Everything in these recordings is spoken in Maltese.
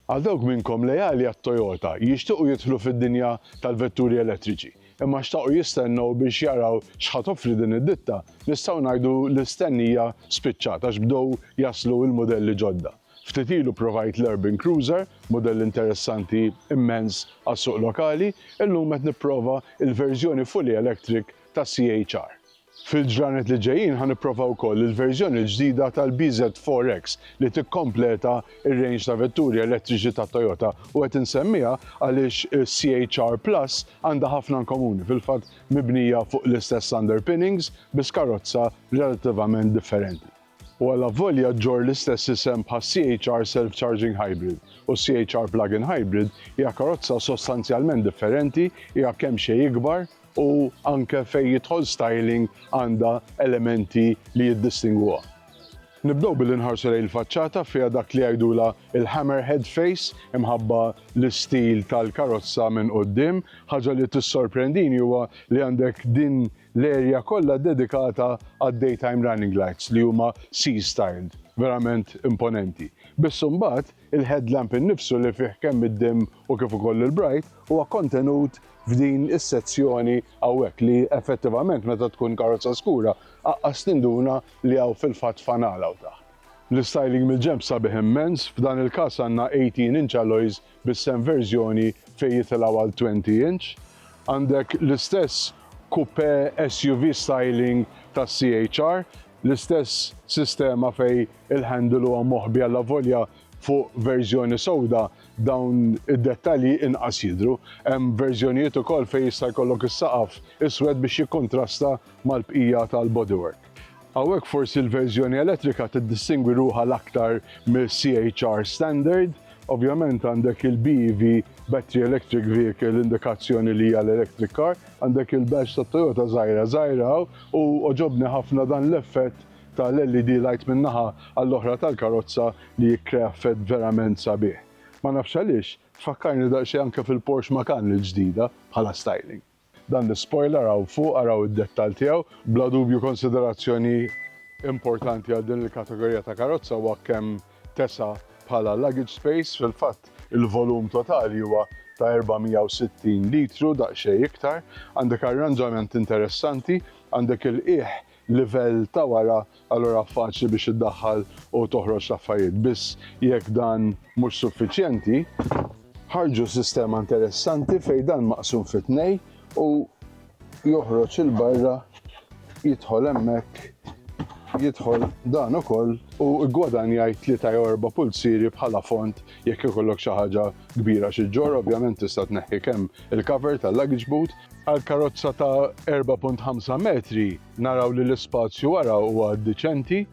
Għal dawk minnkom leali għat-Toyota, jixtiequ jidħlu fid-dinja tal-vetturi elettriċi, imma xtaqu jistennew biex jaraw x'ħa toffri din id-ditta, nistgħu ngħidu li l-stennija spiċċat għax bdew jaslu l-mudelli ġodda. Ftit ilu provajt l-Urban Cruiser, mudell interessanti immens għas-suq lokali, illum qed nipprova l-verżjoni fully electric tas-CHR. Fil-ġranet li ġejjin ħa nipprova wkoll il-verżjoni l-ġdida tal-BZ4X li tikkompleta r-range ta' vetturi elettriċi ta' Toyota u qed insemmiha għaliex is-CHR Plus għandha ħafna in komuni, fil-fatt mibnija fuq l-istess underpinnings biss karozza relattivament differenti. u allavolja ġġorr l-istess isem bħac-CHR Self-Charging Hybrid u s-CHR Plug-in Hybrid, hija karozza sostanzjalment differenti, hija kemxejn ikbar u anke fejn jidħol styling għandha elementi li jiddistingwuha. Nibdew billi nħarsu lejn il-faċċata, fiha dak li jgħidulha l-hammerhead face imħabba l-istil tal-karozza minn quddiem. Ħaġa li tissorprendini huwa li għandek din l-area kollha ddedikata għad-daytime running lights li huma C-styled, verament imponenti. Biss imbagħad, il-headlamp innifsu li fih kemm id-dim u kif ukoll il-bright huwa kontenut f'din is-sezzjoni hawnhekk li effettivament meta tkun karozza skura aqqas tinduna li hawn fil-fatt fanal hawn taħt. L-istyling mill-ġenb sabiħ immens, f'dan il-każ għandna 18 inch alloys bis-sehem verżjoni fejn jitilgħu għal 20 inch. Għandek l-istess coupé SUV styling tas-CHR, l-istess sistema fejn il-handle huwa moħbi allavolja fuq verżjoni sewda dawn id-dettalji inqas jidhru. Hemm verżjonijiet ukoll fejn jista' jkollok is-saqaf iswed biex jikkuntrasta mal-bqija tal-bodywork. Hawnhekk forsi l-verżjoni elettrika tiddistingwi ruħha l-aktar mill-CHR standard. Ovvjament għandek il-BEV, Battery Electric Vehicle, indikazzjoni li hija l-electric car, għandek il-badge ta' Toyota żgħira żgħira hawn u għoġobni ħafna dan l-effett tal-LED light minn naħa għall-oħra tal-karozza li jikkrea effett verament sabiħ. Ma nafx għaliex, tfakkarni daqsxejn anke fil-Porsche Macan il-ġdida bħala styling. Dan l-ispoiler hawn fuq araw id-dettall tiegħu. Bla dubju konsiderazzjoni importanti għal din il-kategorija ta' karozza huwa kemm tesa' bħala luggage space. Fil-fatt il-volum totali huwa ta' 460 litru, daqsxejn iktar. Għandek arranġament interessanti, għandek il-qiegħ livell ta' wara, allura faċli biex iddaħħal u toħroġ l-affarijiet. Biss jekk dan mhux suffiċjenti, ħarġu sistema interessanti fejn dan maqsum fi tnej u joħroġ il-barra jidħol hemmhekk jidħol dan ukoll u ggwadanjaj tlieta jew erba' pulzieri bħala font jekk ikollok xi ħaġa kbira xi ġġorr, ovvjament tista' tneħħi kemm il-cover tal-luggage boot Għal karozza ta' 4.5 metri naraw li l-ispazju wara huwa diċenti,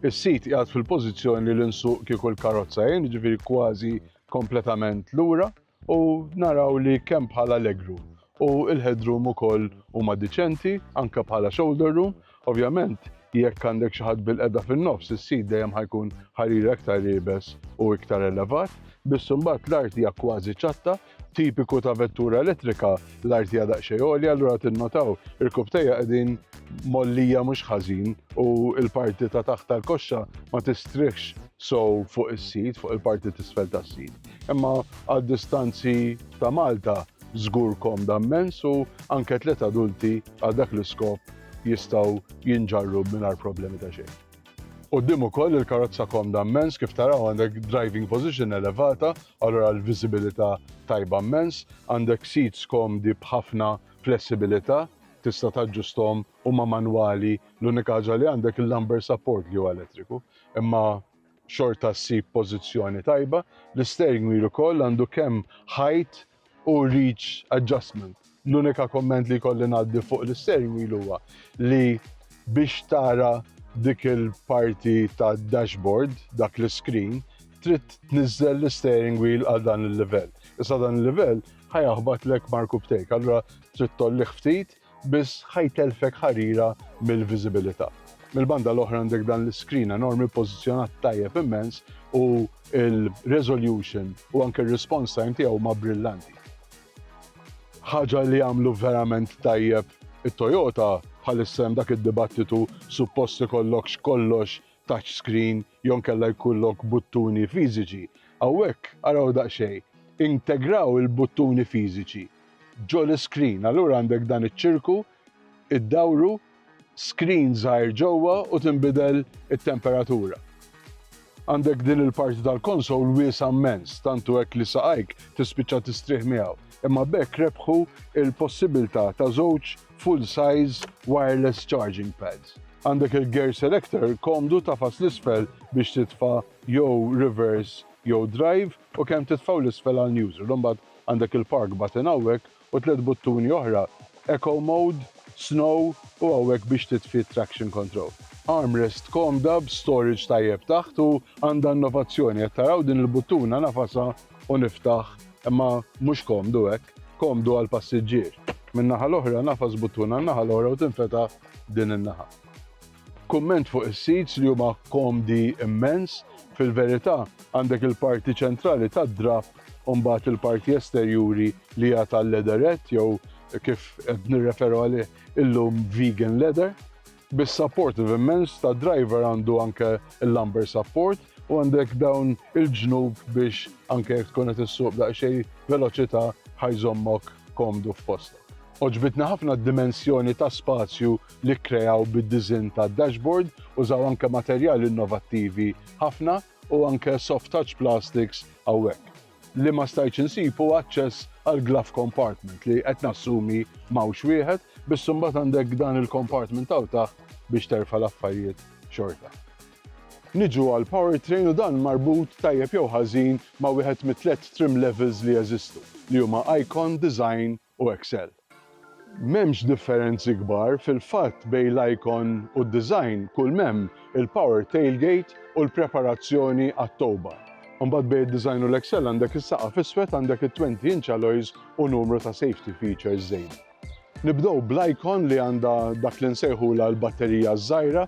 is-sit qiegħed fil-pożizzjoni li l-insuq kieku l-karozza jien, ġifieri kważi kompletament lura, u naraw li kemm bħala legroom u l-headroom ukoll huma diċenti, anke bħala shoulder room, Ovvjament, jekk għandek xi ħadd bilqiegħda fin-nofs, is-sit dejjem ħa jkun ħarir aktar iebes u iktar elevat, biss imbagħad l-art hija kważi ċatta, tipiku ta' vettura elettrika, l-art hija daqsxejn għolja allura tinnotaw irkub tejja qegħdin mgħollija mhux ħażin u l-parti ta' taħt tal-koxxa ma tistrieħx sew fuq is-sit, fuq il-parti t'isfel tas-sit. Imma għad-distanzi ta' Malta żgur komda mmens u anke tliet adulti għal dak l-iskop jistgħu jinġarru mingħajr problemi ta' xejn. Quddiem ukoll il-karozza komda mmens kif taraw għandek driving position elevata, allura l-viżibilità tajba mmens, għandek seats komdi b'ħafna flessibilità, tista' taġġusthom huma manwali, l-unika ħaġa li għandek il-lumbar support li huwa elettriku, imma xorta ssib pożizzjoni tajba, l-isteering wheel ukoll għandu kemm height, u reach adjustment. L-unika komment li kolli ngħaddi fuq l-steering wheel huwa li biex tara dik il-parti ta' dashboard, dak l-screen, trid tniżżel l-steering wheel għal dan il-livell. Issa dan il-livell ħajaħbat lek marku btejk, allura trid tollih ftit biss ħa jtellfek ħarira mill-viżibilità. Mill-banda l-oħra għandek dan l-iskrin enormi ppożizzjonat tajjeb immens u l-resolution u anke r-response time tiegħu huma brillanti. Ħaġa li jagħmlu verament tajjeb it-Toyota bħalissa hemm dak id-dibattitu suppost ikollok x'kollox touch screen jew inkella jkollok buttuni fiżiċi, hawnhekk araw daqsxejn, integraw il-buttuni fiżiċi ġo l-iskrin. Allura għandek dan iċ-ċirku, iddawru, skrin żgħir ġewwa u tinbidel it-temperatura. Għandek din il-parti tal-konsol wiesgħa mmens, tant hu hekk li saqajk tispiċċa tistrieħ miegħu, imma b'hekk rebħu l-possibilità ta' żewġ full size wireless charging pads. Għandek il-gear selector komdu tagħfas 'l isfel biex titfa' jew reverse jew drive u kemm titfa' u 'l isfel għal neutral. Imbagħad għandek il-park button hawnhekk u tliet buttuni oħra, eco mode, snow u hawnhekk biex titfi t-traction control. Armrest komda b'storage tajjeb taħt u għandha innovazzjoni. Qed taraw din il-buttuna nagħfasha u niftaħ Imma mhux komdu hekk. Komdu għall-passiġġier. Min-naħa l-oħra, nagħfas buttun għan-naħa l-oħra u tinfetaħ din in-naħa. Kumment fuq is-seats li huma komdi immens, fil-verità għandek il-parti ċentrali tad-drapp u mbagħad il-parti esterjuri li hija tal-leatherette jew kif qed nirreferu għalih illum vegan leather. Bis-supportive immens tad-driver għandu anke l-lumbar support u għandek dawn il-ġnub biex anke jekk tkun qed issuq b'daqsxejn veloċità ħa jżommok komdu f'postok. Għoġbitni ħafna d-dimensjoni ta' spazju li kkreaw bid-diżinn tad-dashboard, użaw anke materjali innovattivi ħafna u anke soft touch plastics hawnhekk. Li ma stajtx insib hu aċċess għall-glove compartment li qed nassumi m'hawnx wieħed, biss imbagħad għandek dan il-compartment hawn taħt biex terfa' l-affarijiet xorta. Niġu għall-powertrain u dan marbut tajjeb jew ħażin ma' wieħed mit-tliet trim levels li jeżistu, li huma Icon, Design u Excel. M'hemmx differenzi kbar fil-fatt bejn l-icon u d-design kull m'hemm il-power tailgate u l-preparazzjoni għat-towba. Imbagħad bejn id-design u l-Excel għandek is-saqaf iswed għandek it-twenty inch alloys u numru ta' safety features żejda. Nibdew bl-icon li għandha dak li nsejħulha l-batterija ż-żgħira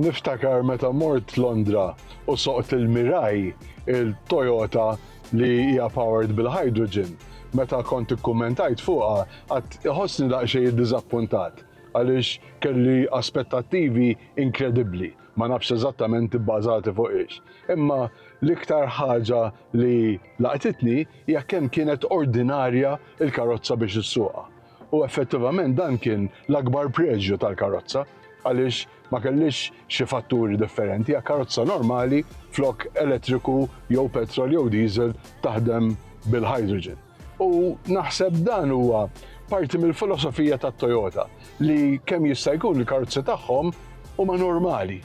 Niftakar meta mort Londra u soqt il-Mirai, il-Toyota li hija powered bil-hydrogen. Meta kont ikkummentajt fuqha għadt iħossni daqsxejn iddiżappuntat għaliex kelli aspettattivi inkredibbli, ma nafx eżattament ibbażati fuq ix. Imma l-iktar ħaġa li. Laqtitni hija kemm kienet ordinarja l-karozza biex issuqha. U effettivament dan kien l-akbar preġju tal-karozza, għaliex ma kellhiex xi fatturi differenti, hija karozza normali flok elettriku jew petrol jew diesel taħdem bil-hydrogen. U naħseb dan huwa parti mill-filosofija ta' Toyota li kemm jista' jkun il-karozzi tagħhom huma normali.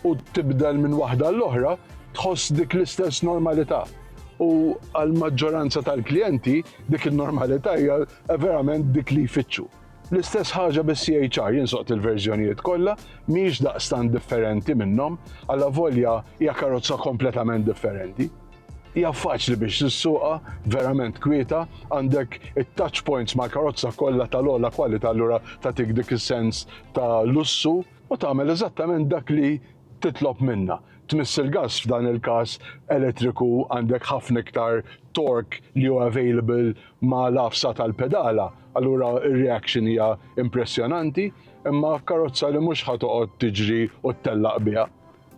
u tibdel minn waħda għall-oħra, tħoss dik l-istess normalità. U għall-maġġoranza tal-klijenti, dik in-normalità hija verament dik li jfittxu. L-istess ħaġa bis-CHR jinsoqt il-verżjonijiet kollha mhix daqstant differenti minnhom, alla volja hija karozza kompletament differenti. Hija faċli biex tissuqha, verament kwieta, għandek it-touch points mal-karozza kollha tal-ogħla kwalità allura tagħtik dik is-sens ta' lussu. u tagħmel eżattament dak li titlob minnha. Tmiss il-gass f'dan il-każ elettriku għandek ħafna iktar torque li hu available ma' l-għafsa tal-pedala, allura r-reaction hija impressjonanti, imma f'karozza li mhux ħa toqgħod tiġri u ttellaq biha.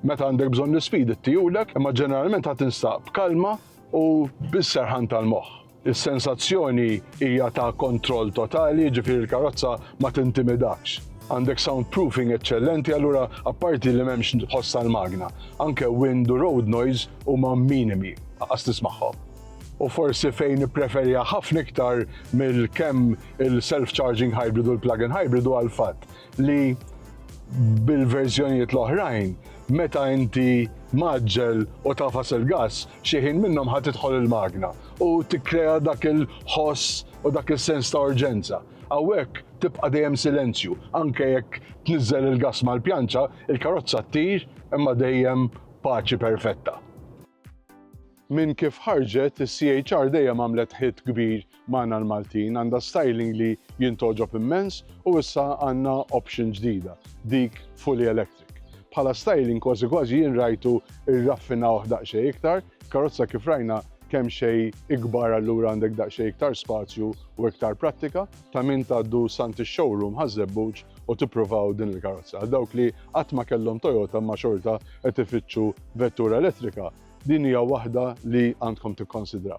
Meta għandek bżonn l-ispeed ittijulek, imma ġeneralment ħa tinstab b'kalma u bis-serħan tal-moħħ. Is-sensazzjoni hija ta' kontroll totali, jiġifieri l-karozza ma tintimidakx. Għandek soundproofing eċċellenti allura apparti li m'hemmx ħoss tal-magna, anke wind u road noise huma minimi, anqas tismagħhom. U forsi fejn nippreferiha ħafna iktar mill-kemm il-self-charging hybrid u l-plug-in hybrid huwa l-fatt li bil-verżjonijiet l-oħrajn meta inti maġġel u tafas il-gass, xi ħin minnhom ħa tidħol il-magna u tikkrea dak il-ħoss u dak is-sens ta' urġenza. Hawnhekk tibqa' dejjem silenzju, anke jekk tniżżel il-gass mal-pjanċa, il-karozza ttir imma dejjem paċi perfetta. Minn kif ħarġet, is-CHR dejjem għamlet hit kbir magħna l-Maltin, għandha styling li jien togħġob immens u issa għandna option ġdida, dik fully electric. Bħala styling kważi kważi jien rajtu rraffinawh daqsxejn iktar, karozza kif rajna kemxejn ikbar allura għandek daqsxejn iktar spazju u iktar prattika. Ta' min tgħaddu s'għand ix-showroom Ħaż-Żebbuġ u tippruvaw din il-karozza. Għal dawk li qatt ma kellhom Toyota imma xorta qed ifittxu vettura elettrika, din hija waħda li għandkom tikkonsidraw.